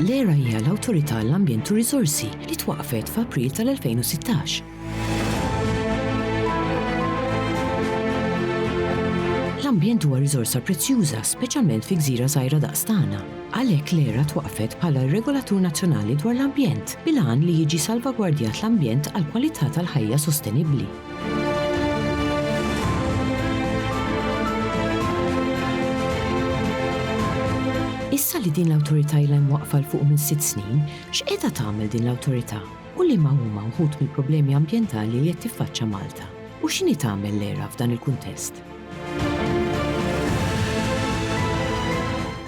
L-ERA hija l-Awtorità għall-Ambjent u r-Riżorsi li twaqqfet f'April tal-2016. L-ambjent huwa riżorsa prezzjuża, speċjalment fi gżira żgħira daqs tagħna. Għalhekk l-ERA twaqqfet bħala r-regolatur nazzjonali dwar l-ambjent, bil-għan li jiġi salvagwardjat l-ambjent għall-kwalità tal-ħajja sostenibbli. Issa li din l-awtorità ilha mwaqqfa l fuq minn sitt snin, x'qiegħda tagħmel din l-awtorità u liema huma wħud mill-problemi ambjentali li qed tiffaċċa Malta u x'inhi tagħmel l-ERA f'dan il-kuntest?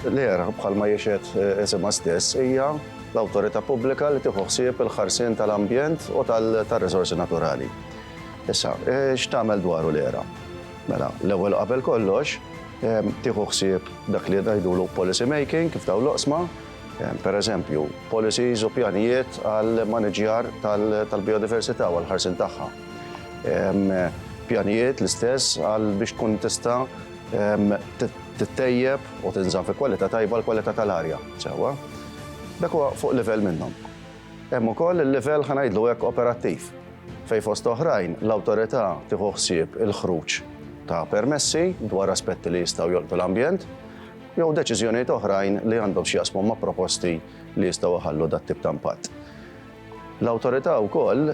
L-ERA, bħalma jixed isimha stess, hija l-awtorità pubblika li tieħu ħsieb il-ħarsien tal-ambjent u tal-riżorsi naturali. Issa, eh, x'tagħmel dwaru l-era? Mela, l-ewwel qabel kollox, eh, tieħu ħsieb dak li ngħidulu policy making kif daw l-oqsma, eh, per eżempju, policies u pjanijiet għal maniġjar tal-biodiversità u għal-ħarsin tagħha. Hemm pjanijiet l-istess għal biex tkun tista' tittejjeb u tinżamm fi kwalità tajba l-kwalità tal-arja sewwa. Dak huwa fuq livell minnhom. Hemm ukoll il-livell ħa ngħidlu hekk operattiv fejn fost oħrajn l-awtorità tieħu ħsieb il-ħruġ ta' permessi dwar aspetti li jistgħu jolqtu l-ambjent jew deċiżjonijiet oħrajn li għandhom x'jaqsmu ma' proposti li jistgħu jħallu dat-tip ta' impatt. L-Awtorità wkoll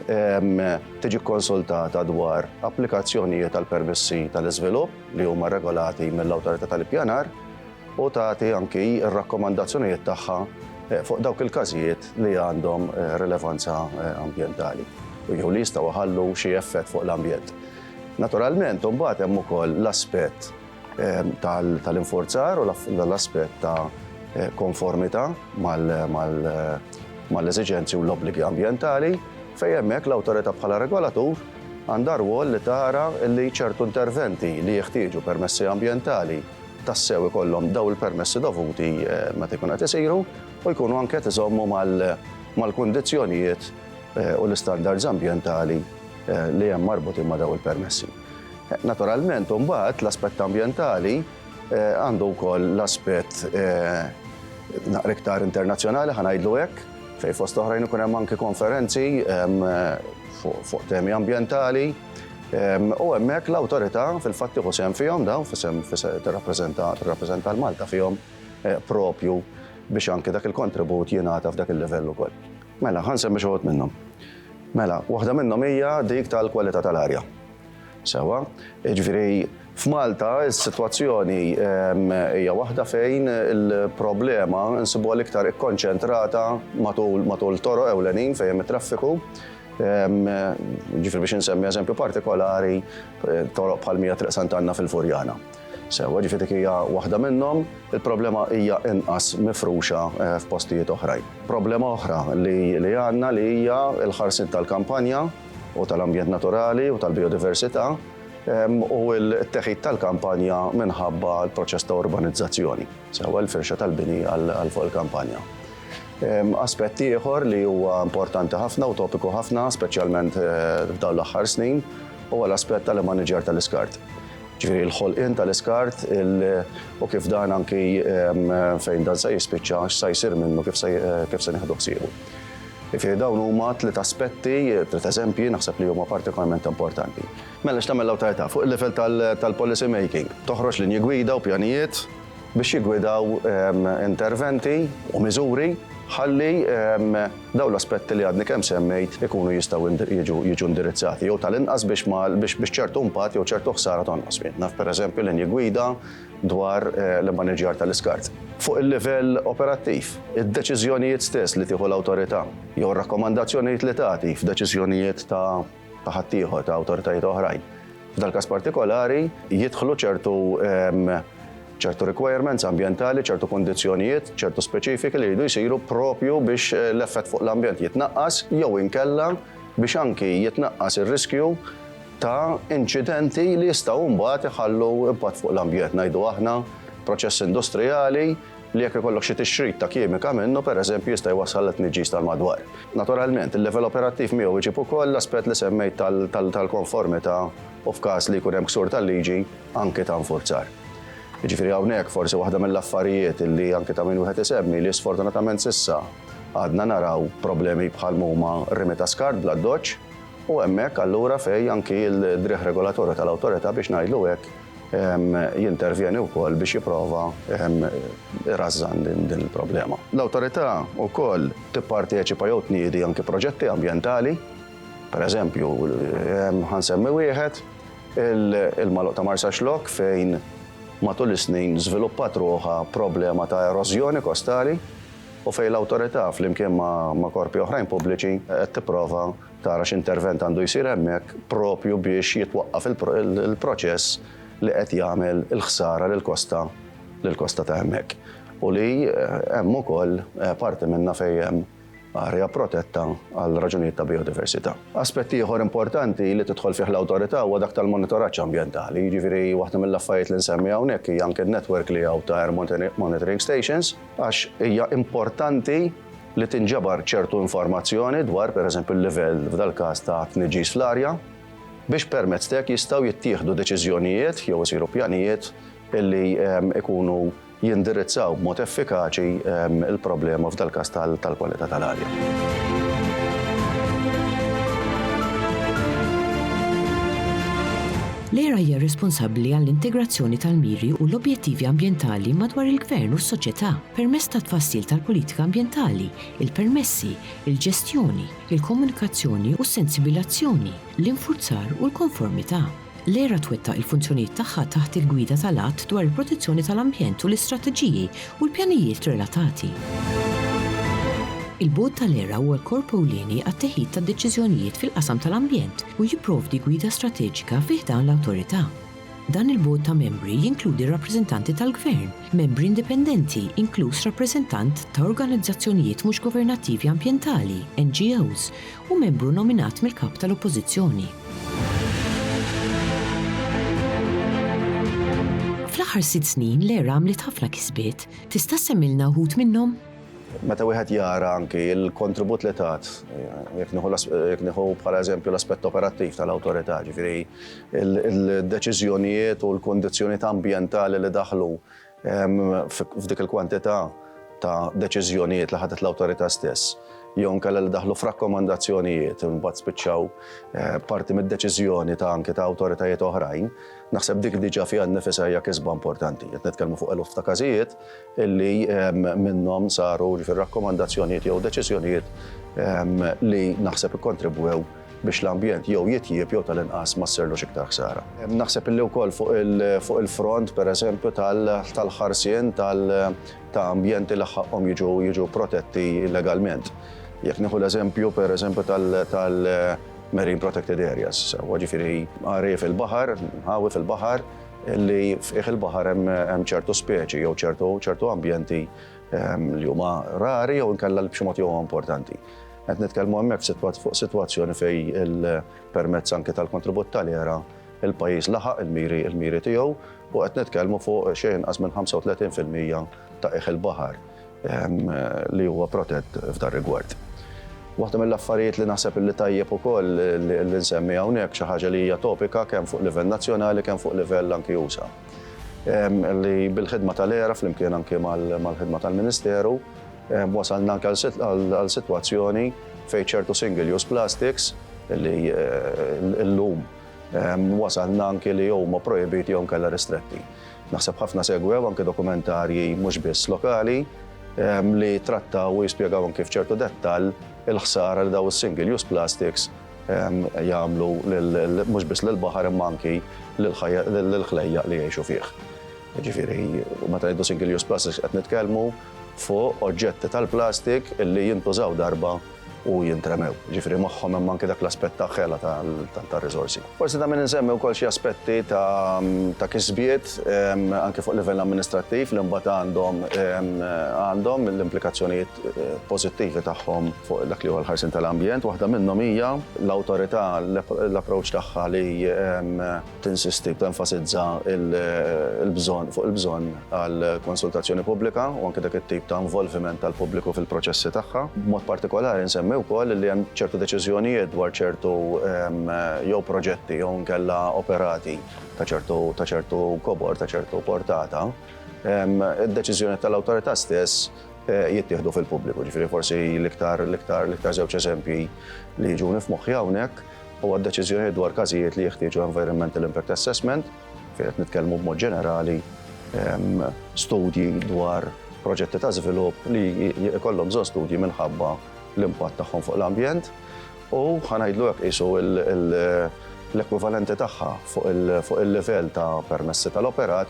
tiġi kkonsultata dwar applikazzjonijiet għal permessi tal-iżvilupp li huma regolati mill-Awtorità tal-Ippjanar u tagħti anki r-rakkomandazzjonijiet tagħha eh, fuq dawk il-każijiet li għandhom eh, rilevanza eh, ambjentali u jew li jistgħu ħallu xi effett fuq l-ambjent. Naturalment, imbagħad hemm ukoll l-aspett tal-inforzar u l-aspett ta' konformità mal-eżiġenzi u l-obbligi ambjentali fejn hemmhekk l-awtorità bħala regolatur għandha rwol li tara li ċertu interventi li jeħtieġu permessi ambjentali tassew ikollhom daw il-permessi dovuti meta jkun qed isiru u jkunu anke qed iżommu mal-kundizzjonijiet u l-istandards ambjentali li hemm marbutin ma' daw il-permessi. Naturalment, imbagħad l-aspett ambjentali eh, għandu wkoll l-aspett eh, naqra iktar internazzjonali ħanajdlu hekk, fejn fost oħrajn ikun hemm anki konferenzi fuq temi ambjentali. U hemmhekk l-awtorità fil-fatt tieħu sehem fihom dawn fisem tirrappreżenta l-Malta fihom eh, propju biex anke dak il-kontribut jingħata f'dak il-livell ukoll. Mela, ħa nsemmi xi wħud minnhom. Mela, waħda minnhom hija dik tal-kwalità tal-arja. Sewa, jiġifieri f'Malta s-sitwazzjoni ehm, hija waħda fejn il-problema nsibuha l-iktar ikkonċentrata matul matul toro ewlenin fejn hemm it-traffiku ehm, ġifir biex nsemmi eżempju partikolari eh, toroq bħal mija Triq Sant'Anna fil-Furjana. Sewwa, ġifieri dik hija waħda minnhom, il-problema hija inqas mifruxa eh, f'postijiet oħrajn. Problema oħra li għandna li hija l-ħarsin tal-kampanja u tal-ambjent naturali u tal-biodiversità u l-teħid tal-kampanja minħabba l-proċess ta' urbanizzazzjoni, sewa l-firxa tal-bini għal fuq il-kampanja. Aspett ieħor li huwa importanti ħafna u topiku ħafna, speċjalment eh, f'dawn l-aħħar snin, huwa l-aspett tal-maniġer tal-iskart. ġifieri l-ħolqien tal-iskart u kif dan anki fejn dan se jispiċċa x'sa jsir minnu kif se nieħdu ħsiebu. Ġifieri dawn huma tliet aspetti, tliet eżempji naħseb li huma partikolarment importanti. Mela x'tagħmel l-awtorità fuq il-livell tal-policy making? Toħroġ linji gwida u pjanijiet, biex jiggwidaw interventi u miżuri ħalli dawn l-aspetti li għadni kemm semmejt ikunu jistgħu jiġu indirizzati jew tal-inqas biex ċertu impatt jew ċertu ħsara tonqos minna, pereżempju linji gwida dwar eh, l-immaniġjar tal-iskart. Fuq il-livell operattiv, id-deċiżjonijiet stess li tieħu l-awtorità jew rakkomandazzjonijiet li tagħti f'deċiżjonijiet ta' ta' ħaddieħor ta' awtoritajiet oħrajn. F'dal-każ partikolari jidħlu ċertu ċertu requirements ambientali, ċertu kondizjonijiet, ċertu speċifiki li jridu jisiru propju biex eh, l-effett fuq l-ambjent jitnaqqas jew inkella biex anki jitnaqqas ir-riskju ta' inċidenti li jistgħu mbagħad iħallu impatt fuq l-ambjent ngħidu aħna proċess industrijali li jekk ikollok xi tixrid ta' kimika minnu, pereżempju, jista' jwassal għal tniġġis tal-madwar. Naturalment, il-level operattiv miegħu jġib ukoll l-aspett li semmejt tal-konformità u f'każ li jkun hemm ksur tal-liġi, anki ta' infurzar. Jiġifieri hawnhekk forsi waħda mill-affarijiet li anki ta' min wieħed isemmi li sfortunatament s'issa għadna naraw problemi bħal m'huma r-rimi ta' skart bl-addoċċ u hemmhekk allura fejn anki l-driegħ regolatorju tal-awtorità biex ngħidlu hekk jintervjeni wkoll biex jipprova irażżan din il-problema. L-awtorità wkoll tipparteċipa jew tniedi anki proġetti ambjentali, pereżempju ħansemmi wieħed il-Maluq ta' Marsa Xlok fejn matul is-snin żviluppat ruħha problema ta' erożjoni kostali u fejn l-awtorità flimkien ma' korpi oħrajn pubbliċi qed tipprova tara x'intervent għandu jsir hemmhekk propju biex jitwaqqaf il-proċess li qed jagħmel il-ħsara lill-kosta lill-kosta ta' hemmhekk. U li eh, hemm ukoll eh, parti minna fejn hemm arja protetta għal raġunijiet ta' biodiversità. Aspett ieħor importanti li tidħol fih l-awtorità huwa dak tal-monitoraġġ ambjentali, jiġifieri waħda mill-affarijiet li nsemmi hawnhekk hija anke n-netwerk li hawn ta' air monitoring stations għax hija importanti li tinġabar ċertu informazzjoni dwar, pereżempju, l-livell, f'dal-każ, ta' tniġġis fl-arja, biex permezz t'hekk jistgħu jittieħdu deċiżjonijiet jew isiru pjanijiet li jkunu jindirizzaw b'mod effikaċi l-problema f'dal-każ tal-kwalità tal-arja. L-ERA hija responsabbli għall-integrazzjoni tal-miri u l-objettivi ambjentali madwar il-gvern u s-soċjetà. permezz tat-tfassil tal-politika ambjentali, il-permessi, il-ġestjoni, il-komunikazzjoni u s-sensibilazzjoni, l-infurzar u l-konformità. L-ERA twettaq il-funzjonijiet tagħha taħt il-gwida tal-Att dwar il-Protezzjoni tal-Ambjent u l-istrateġiji u l-pjanijiet relatati. Il-Bord tal-ERA huwa l-korp ewlieni għat-teħid tad-deċiżjonijiet fil-qasam tal-ambjent u jipprovdi gwida strateġika fi ħdan l-Awtorità. Dan il-Bord ta' Membri jinkludi r-rappreżentanti tal-Gvern, membri indipendenti, inkluż rappreżentant ta' organizzazzjonijiet mhux governattivi ambjentali, NGOs, u membru nominat mill-Kap tal-Oppożizzjoni. Fl-aħħar sitt snin l-ERA għamlet ħafna kisbiet. Tista' ssemmilna wħud minnhom? Meta wieħed jara anki l-kontribut li tat, jekk nieħu bħala eżempju l-aspett operattiv tal-Awtorità, ġifieri il-deċiżjonijiet u l-kundizzjonijiet ambjentali li daħlu f'dik il-kwantità ta' deċiżjonijiet li ħadet l-Awtorità stess jew inkella li daħlu f'rakkomandazzjonijiet u mbagħad spiċċaw parti mid-deċiżjoni ta' anke ta' awtoritajiet oħrajn, naħseb dik diġà fiha nnifisha hija kisba importanti. Qed nitkellmu fuq eluf ta' każijiet, li minnhom saru rakkomandazzjonijiet jew deċiżjonijiet li naħseb ikkontribwew biex l-ambjent jew jitjieb jew tal-inqas ma ssirlux iktar ħsara. Naħseb li wkoll fuq il-front pereżempju tal-ħarsien ta' ambjenti li ħaqqhom jiġu protetti legalment. Jekk nieħu l-eżempju pereżempju tal-marine protected areas, jiġifieri għarief il-baħar, inħawi fil-baħar, li f'qiegħ il-baħar hemm ċertu speċi jew ċertu ambjenti li huma rari jew inkella li b'xi mod huma importanti. Qed nitkellmu hemmhekk fuq sitwazzjoni fejn il-permezz anke tal-kontribut tal-ERA il-pajjiż laħaq il-miri tiegħu u qed nitkellmu fuq xejn inqas minn 35% ta' qiegħ il-baħar. li huwa protett f'dar rigward. Waħda mill-affarijiet li naħseb li tajjeb ukoll li nsemmi hawnhekk xi ħaġa li hija topika kemm fuq livell nazzjonali kemm fuq livell anki usa. Li bil-ħidma tal-era flimkien anki mal-ħidma tal-Ministeru wasalna anke għal sitwazzjoni fejn ċertu single-use plastics li llum Wasalna anki li huma projbiti jew inkella ristretti. Naħseb ħafna segwew anki dokumentarji mhux biss lokali li trattaw u jispjegaw anki f'ċertu dettall il-ħsara li daw is-single use plastics jagħmlu mhux biss lill-baħar imma anki lill-ħlejjaq li jgħixu fih. Ġifieri, meta ngħidu single use plastics qed nitkellmu fuq oġġetti tal-plastik li jintużaw darba u jintremew. Ġifieri magħhom hemm anke dak l-aspett ta' ħela tar-riżorsi. Forsi ta' min insemmi wkoll xi aspetti ta' kisbiet anke fuq livell amministrattiv li mbagħad għandhom għandhom l-implikazzjonijiet pożittivi tagħhom fuq dak li huwa l-ħarsien tal-ambjent. Waħda minnhom hija l-awtorità l-approċċ tagħha li tinsisti u tenfasizza l-bżonn fuq il-bżonn għal konsultazzjoni pubblika u anke dak it-tip ta' involviment tal-pubbliku fil-proċessi tagħha. B'mod partikolari nsemmi wkoll li hemm ċertu deċiżjonijiet dwar ċertu ehm, jew proġetti jew nkella operati ta' ċertu ta' ċertu kobor, ta' ċertu portata. Ehm, id-deċiżjoni tal-awtorità stess eh, jittieħdu fil-pubbliku, ġifieri forsi l-iktar l-iktar l-iktar żewġ eżempji li jiġu nifmoħħi hawnhekk u għad-deċiżjonijiet dwar każijiet li jeħtieġu environmental impact assessment, fejn qed nitkellmu b'mod ġenerali studji dwar proġetti ta' żvilupp li jkollhom bżonn studji minħabba l-impatt tagħhom fuq l-ambjent, u ħa ngħidlu hekk qisu l-ekwivalenti tagħha fuq il-livell ta' permessi tal-operat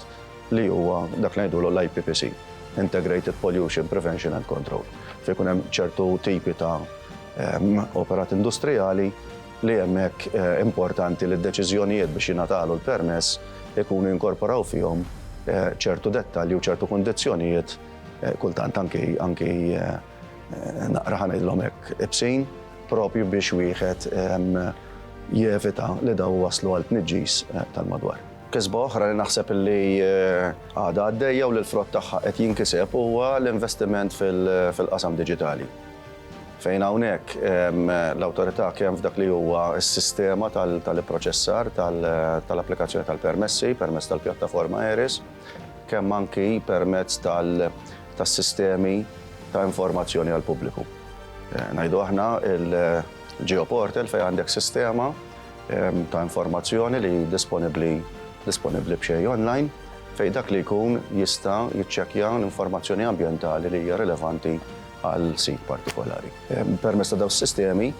li huwa dak li ngħidulu l-IPPC, Integrated Pollution Prevention and Control, fejn ikun hemm ċertu tipi ta' Hemm operat industrijali li hemmhekk importanti li d-deċiżjonijiet biex jingħatalu l-permess ikunu jinkorporaw fihom ċertu dettalji u ċertu kundizzjonijiet kultant anki anki naqra ħa ngħidilhom hekk ibsin propju biex wieħed jevita li dawn iwasslu għal tniġġis tal-madwar. Kisba oħra li naħseb li għadha għaddejja u li l-frott tagħha qed jinkiseb huwa l-investiment fil-qasam diġitali. Fejn hawnhekk l-awtorità kemm f'dak li huwa s-sistema tal-ipproċessar tal-applikazzjoni tal-permessi permezz tal-pjattaforma ERIS, kemm anki permezz tas-sistemi ta' informazzjoni għall-pubbliku. Ngħidu aħna l-Geoportal fejn għandek sistema ta' informazzjoni li disponibbli disponibbli b'xejn online fejn dak li jkun jista' jiċċekkja l-informazzjoni ambjentali li hija rilevanti għal sit partikolari. Permezz ta' dawn is-sistemi,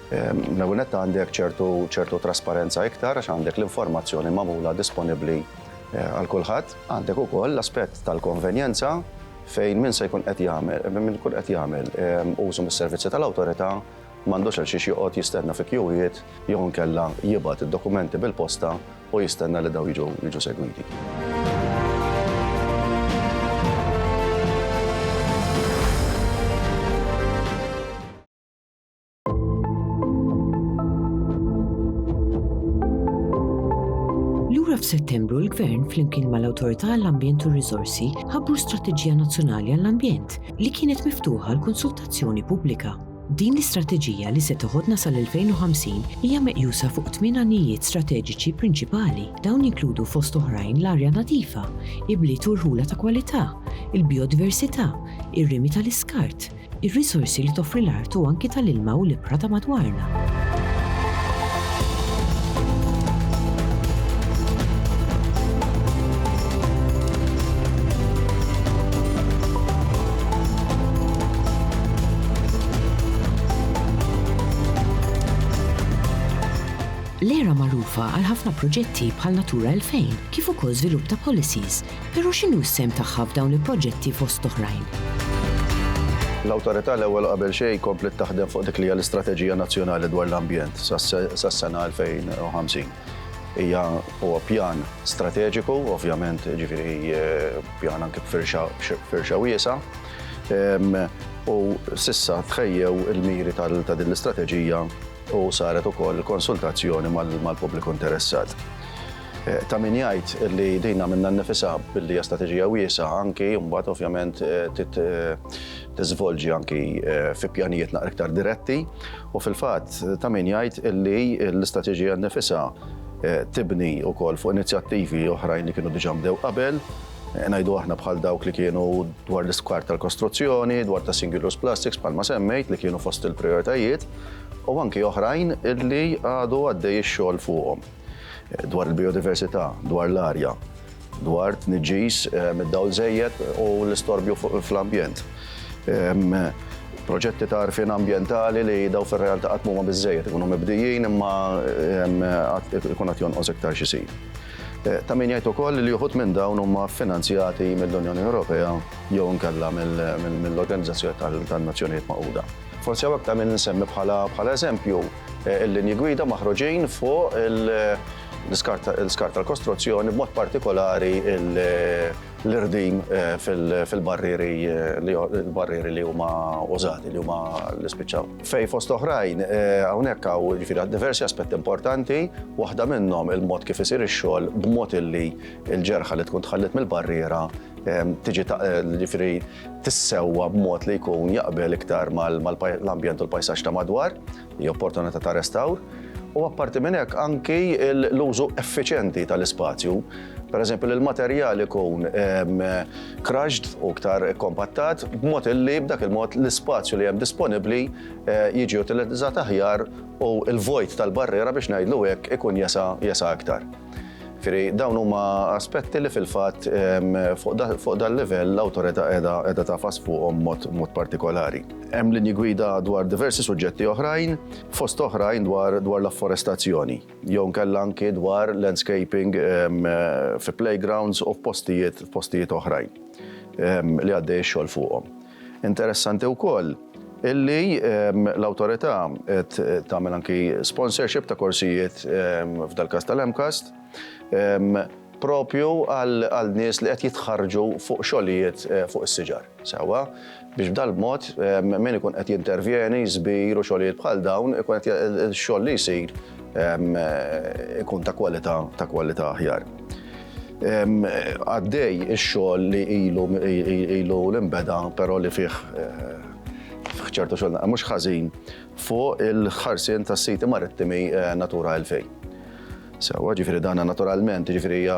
l-ewwel nett għandek ċertu trasparenza iktar għax għandek l-informazzjoni magħmula disponibbli għal kulħadd. Għandek ukoll l-aspett tal-konvenjenza fejn min se jkun qed jagħmel, min ikun qed jagħmel użu mis-servizzi tal-Awtorità m'għandux għalxiex joqgħod jistenna fi kjuwiet jew inkella jibgħat id-dokumenti bil-posta u jistenna li dawn jiġu jiġu segwiti. Lura f'Settembru l-Gvern flimkien mal-Awtorità għall-Ambjent u r-Riżorsi ħabbru Strateġija Nazzjonali għall-Ambjent li kienet miftuħa l-konsultazzjoni pubblika. Din l-istrateġija li se teħodna sal-2050 hija meqjusa fuq tmien għanijiet strateġiċi prinċipali. Dawn jinkludu fost oħrajn l-arja nadifa, ibliet u rħula ta' kwalità, il-bijodiversità, ir-rimi tal-iskart, ir-riżorsi li toffri l-art u anki tal-ilma u l-ibħra ta' madwarna. L-era magħrufa għal ħafna proġetti bħal Natura 2000, kif ukoll żvilupp ta' policies, però x'inhu s-sehem tagħha f'dawn il-proġetti fost oħrajn? L-Awtorità l-ewwel qabel xejn kompliet taħdem fuq dik li hija l-Istrateġija Nazzjonali dwar l-Ambjent sas-sena 2050. Hija huwa pjan strateġiku, ovvjament ġifieri eh, pjan anke b'firxa wiesa', U sissa tħejjew il-miri ta' din l-istrateġija u saret ukoll konsultazzjoni mal-pubbliku interessat. Eh, ta' min jgħid li dina minna nifisa billi strateġija wiesa anki mbagħad ovvjament eh, eh, tiżvolġi anki fi pjanijiet naqra iktar diretti u fil-fatt ta' min jgħid li l-istrateġija nifisa tibni wkoll fuq inizjattivi oħrajn li kienu diġà mdew qabel Ngħidu aħna bħal dawk li kienu dwar l-iskart tal-kostruzzjoni, dwar ta' single use plastics bħalma semmejt li kienu fost il-prioritajiet u anki oħrajn illi għadu għaddej ix-xogħol fuqhom. Dwar il-biodiversità, dwar l-arja, dwar tniġġis eh, mid-dawl żejjed u l-istorbju fl-ambjent. Ehm, proġetti ta' arfin ambientali li daw fil-realtà qatt mhuma biżejjed ikunu mibdijin imma ehm, ikun qed jonqos iktar xi Ta' min jgħid ukoll li uħud minn dawn huma ffinanzjati mill-Unjoni Ewropea jew inkella mill-Organizzazzjoni tan-Nazzjonijiet Magħquda. Forsi hawnhekk ta' min insemmi bħala eżempju l-linji gwida maħruġin fuq l-iskart tal-kostruzzjoni, b'mod partikolari l-irdim fil-barrieri li huma użati, li huma li spiċċaw. Fejn fost oħrajn hawnhekk hawn jiġifieri diversi aspetti importanti, waħda minnhom il-mod kif isir ix-xogħol b'mod illi l-ġerħa li tkun tħalliet mill-barriera tiġi jiġifieri tissewwa b'mod li jkun jaqbel iktar mal-ambjent u l-pajsaġġ ta' madwar, hija opportunità ta' restawr. U apparti minn hekk anki l-użu effiċjenti tal-ispazju. Per eżempju, li l-materjal ikun ehm, crushed u ktar kompattat, b'mod illi b'dak il-mod l-ispazju li hemm disponibbli eh, jiġi utilizzat aħjar u l-vojt tal-barriera biex ngħidlu hekk ikun jesa jesa aktar. Firi, dawn huma aspetti li fil-fatt ehm, fuq dan livell l-awtorità qiegħda tafas fuqhom mod partikolari. Hemm linji gwida dwar diversi suġġetti oħrajn, fost oħrajn dwar l-afforestazzjoni. jew inkella anki dwar landscaping fi playgrounds u f'postijiet f'postijiet oħrajn li għaddej ix-xogħol fuqhom. Interessanti wkoll illi l-awtorità qed tagħmel anki sponsorship ta' korsijiet f'dal-każ tal-MCAST propju għal nies li qed jitħarrġu fuq xogħlijiet fuq is-siġar. Sewwa? biex b'dal-mod min ikun qed jintervjeni, żbir u xogħlijiet bħal dawn, ikun qed ix-xogħol li jsir ikun ta' kwalità ta' kwalità aħjar. Għaddej ix-xogħol li ilu ilu li nbeda però li fih fih ċertu xogħol mhux ħażin fuq il-ħarsien tas-siti marittimi Natura 2000. Sewwa, ġifieri dan naturalment, ġifieri hija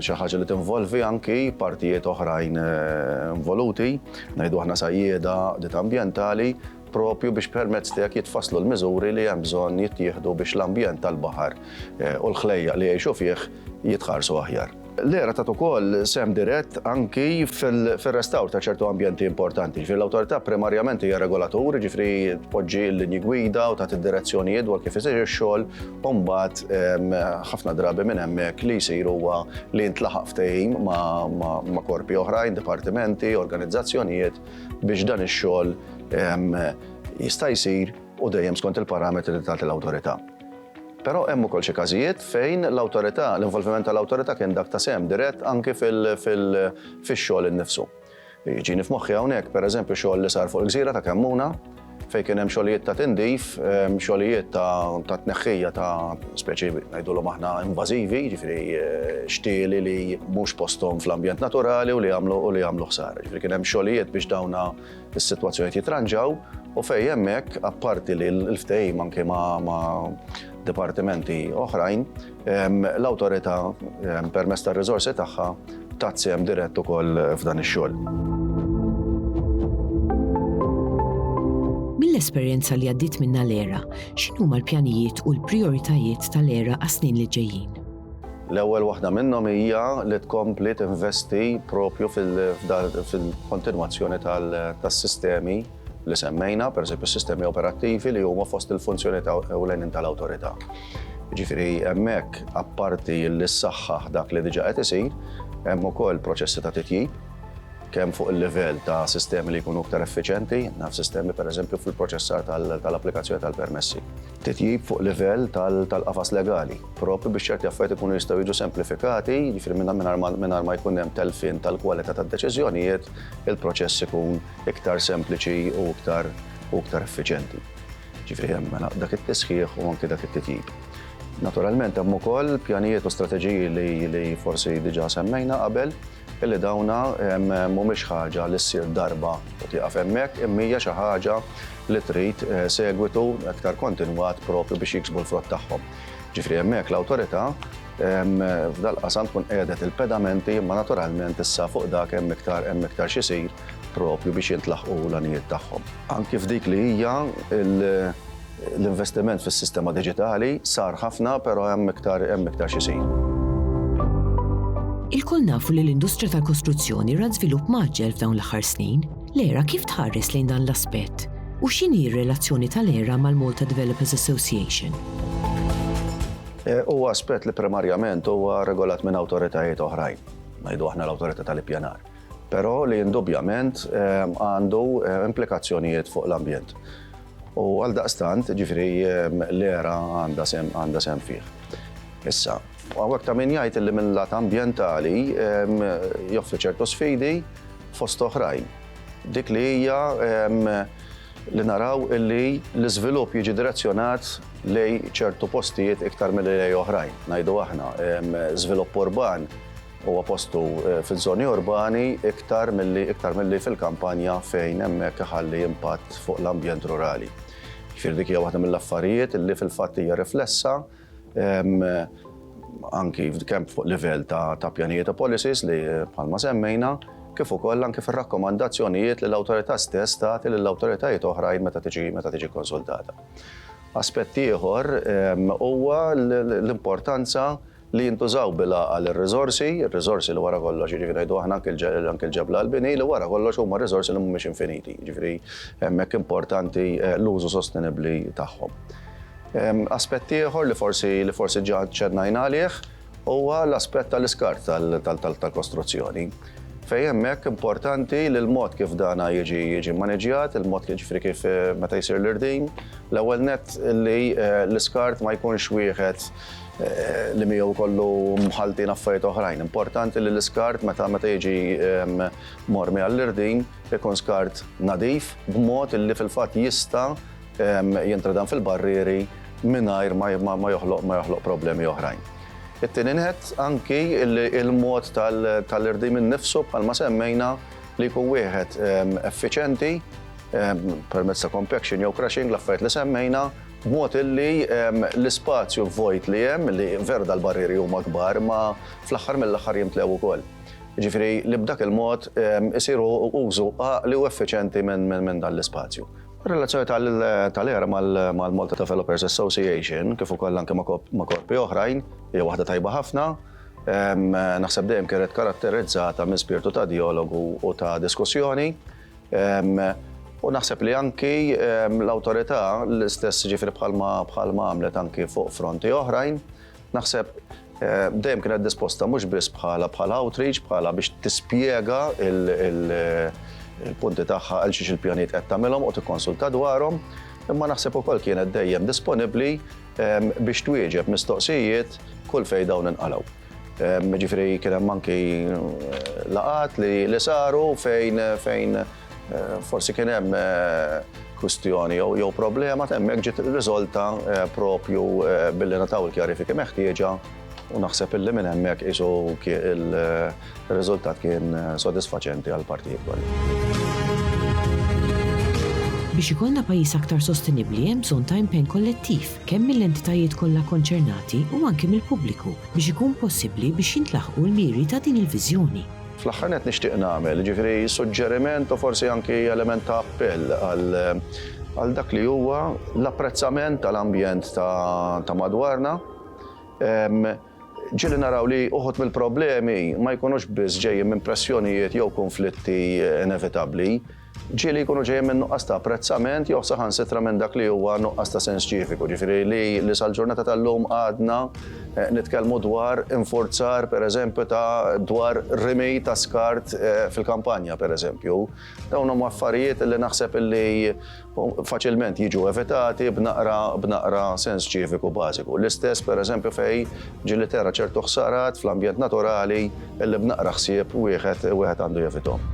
xi ħaġa li tinvolvi anki partijiet oħrajn eh, involuti, ngħidu aħna sajjieda dit ambjentali, propju biex permezz tiegħek jitfasslu l-miżuri li hemm bżonn jittieħdu biex l-ambjent tal-baħar eh, u l-ħlejja li jgħixu fih jitħarsu aħjar. L-ERA tat ukoll sehem dirett anki fir-restawr ta' ċertu ambjenti importanti. Ġifieri l-Awtorità primarjament hija regolatur, jiġifieri tpoġġi l-linji gwida u tagħti d-direzzjonijiet dwar kif isir ix-xogħol u mbagħad ħafna drabi minn hemmhekk li jsir huwa li jintlaħaq ftehim ma' korpi oħrajn, dipartimenti, organizzazzjonijiet biex dan ix-xogħol jista' jsir u dejjem skont il-parametri li tagħti l-Awtorità. Però hemm ukoll xi każijiet fejn l-awtorità, l-involviment tal-awtorità kien dak ta' sehem dirett anki fil-xogħol innifsu. Jiġini f'moħħi hawnhekk, pereżempju, xogħol li sar fuq il-gżira ta' Kemmuna fejn kien hemm xogħlijiet ta' tindif, xogħlijiet ta' tneħħija ta' speċi ngħidulhom aħna invażivi, jiġifieri xtieli li mhux posthom fl-ambjent naturali u li jagħmlu ħsara. Jiġifieri kien hemm xogħlijiet biex dawn is-sitwazzjonijiet jitranġaw u fejn hemmhekk apparti li l-ftehim anke ma' dipartimenti oħrajn, l-awtorità permezz tar-riżorsi tagħha tat sehem dirett ukoll f'dan ix-xogħol. Mill-esperjenza li għaddiet minnha l-ERA, x'inhuma l-pjanijiet u l-prijoritajiet tal-ERA għas-snin li ġejjin? L-ewwel waħda minnhom hija li tkompli tinvesti propju fil-kontinwazzjoni tas-sistemi li semmejna, pereżempju s-sistemi operattivi li huma fost il-funzjoni ta' ewlenin tal-awtorità. Ġifieri hemmhekk apparti li ssaħħaħ dak li diġà qed isir, hemm ukoll proċessi ta' titjib, kemm fuq il-livell ta' sistemi li jkunu iktar effiċjenti, naf sistemi pereżempju fil-proċessar tal-applikazzjoni tal-permessi. Titjib fuq livell tal-qafas legali, proprju biex ċerti affarijiet ikunu jistgħu jiġu semplifikati, jiġifieri mingħajr ma jkun hemm telfien tal-kwalità tad-deċiżjonijiet, il-proċess ikun iktar sempliċi u iktar effiċjenti. Jiġifieri hemm mela dak it-tisħiħ u anke dak it-titjib. Naturalment hemm ukoll pjanijiet u strateġiji li forsi diġà semmejna qabel. Illi dawn mhumiex ħaġa li ssir darba u tieqaf hemmhekk, imma hija xi ħaġa li trid segwitu iktar kontinwat proprju biex jiksbu l-frott tagħhom. Ġifieri hemmhekk l-Awtorità f'dal-qasam tkun qiegħdet il-pedamenti imma naturalment issa fuq dak hemm iktar hemm iktar x'isir proprju biex jintlaħqu l-għanijiet tagħhom. Anki f'dik li hija l. L-investiment fis-sistema diġitali sar ħafna però hemm iktar hemm iktar x'isir. Ilkoll nafu li l-industrija tal-kostruzzjoni ra żvilupp mgħaġġel f'dawn l-aħħar snin. L-era kif tħares lejn dan l-aspett? U x'inhi r-relazzjoni tal-era mal-Malta Developers Association? Eh, huwa aspett li primarjament huwa regolat minn awtoritajiet oħrajn, ngħidu aħna l-awtorità tal-ippjanar. Però li indubjament eh, għandu eh, implikazzjonijiet fuq l-ambjent. U għaldaqstant, ġifieri l-era għandha sehem fih. Issa, hawnhekk ta' min jgħid li minn lat ambjentali joffri ċertu sfidi fost oħrajn. Dik li hija li naraw li l-iżvilupp jiġi direzzjonat lejn ċertu postijiet iktar milli lejn oħrajn, ngħidu aħna, żvilupp urban. Huwa postu fiż-żoni urbani iktar milli iktar milli fil-kampanja fejn hemmhekk iħalli impatt fuq l-ambjent rurali. Jiġifieri dik hija waħda mill-affarijiet li fil-fatt hija riflessa anki kemm fuq livell ta' pjanijiet u policies li bħalma semmejna, kif ukoll anki fir-rakkomandazzjonijiet li l-Awtorità stess tagħti lil awtoritajiet oħrajn meta tiġi meta tiġi konsultata. Aspett ieħor huwa l-importanza Li jintużaw bil-għaqal ir-riżorsi, ir-riżorsi li wara kollox, jiġifieri ngħidu aħna anke anke l-ġebla għall-bini, li wara kollox huma riżorsi li mhumiex infiniti, jiġifieri hemmhekk importanti l-użu sostenibbli tagħhom. Aspett ieħor li forsi li forsi ġa ċċennajna għalih huwa l-aspett tal-iskart tal-kostruzzjoni, fejn hemmhekk importanti li l-mod kif dan jiġi jiġi mmaniġġjat, il-mod kif jiġifieri kif meta jsir l-irdin, l-ewwel nett li l-iskart ma jkunx wieħed li miegħu jkollu mħalltin affarijiet oħrajn. Importanti li l-iskart meta meta jiġi ehm, mormi għall-irdin ikun skart nadif b'mod li fil-fatt jista' ehm, jintradan fil-barrieri mingħajr ma joħloq ma joħloq problemi oħrajn. It-tieni nħed anki il-mod tal-irdim innifsu bħalma semmejna li jkun wieħed ehm, effiċenti permezz ta' compaction jew crushing l-affarijiet li semmejna B'mod illi l-ispazju vojt li hemm, li veru dal-barrieri huma kbar, imma fl-aħħar mill-aħħar jimtlew ukoll. Jiġifieri li b'dak il-mod isiru użu għaqli u effiċjenti minn dan l-ispazju. Ir-relazzjoni tal-ERA mal-Malta Developers Association, kif ukoll anke ma' korpi oħrajn, hija waħda tajba ħafna. Naħseb dejjem kienet karatterizzata minn spirtu ta' djalogu u ta' diskussjoni. U naħseb li anki l-autorità l-istess ġifri bħalma bħalma għamlet anki fuq fronti oħrajn, naħseb dejjem kienet disposta mhux biss bħala bħala outreach, bħala biex tispjega il-punti tagħha għal xiex il-pjaniet qed tagħmilhom u tikkonsulta dwarhom, imma naħseb ukoll kienet dejjem disponibbli biex twieġeb mistoqsijiet kull fejn dawn inqalgħu. Ġifiri kien hemm anki laqat li saru fejn fejn forsi kien hemm kwistjoni jew problema temmek ġiet riżolta propju billi nataw il-kjarifiki meħtieġa u naħseb illi minn hemmhekk isu il Ir-riżultat kien sodisfaċenti għall-partijiet kollha. Biex ikollna pajjiż aktar sostenibbli hemm bżonn ta' impenn kollettiv, kemm mill-entitajiet kollha kkonċernati u anki mill-pubbliku, biex ikun possibbli biex jintlaħqu l-miri ta' din il-viżjoni. Fl-aħħar nett nixtieq nagħmel, jiġifieri suġġeriment u forsi anki element ta' appell għal dak li huwa l-apprezzament tal-ambjent ta' madwarna, Ġieli naraw li uħud mill-problemi ma jkunux biss ġejjin minn pressjonijiet jew kunflitti inevitabbli. Ġieli jkunu ġejjin minn nuqqas ta' apprezzament jew saħansitra minn dak li huwa nuqqas ta' sens ċiviku, ġifieri li sal-ġurnata tal-lum għadna nitkellmu dwar infurzar, pereżempju, ta' dwar rimi ta' skart fil-kampanja, pereżempju. Dawn huma affarijiet li naħseb li faċilment jiġu evitati b'naqra b'naqra sens ċiviku bażiku. L-istess pereżempju fej ġili tera ċertu ħsarat fl-ambjent naturali illi b'naqra ħsieb wieħed wieħed għandu jevitom.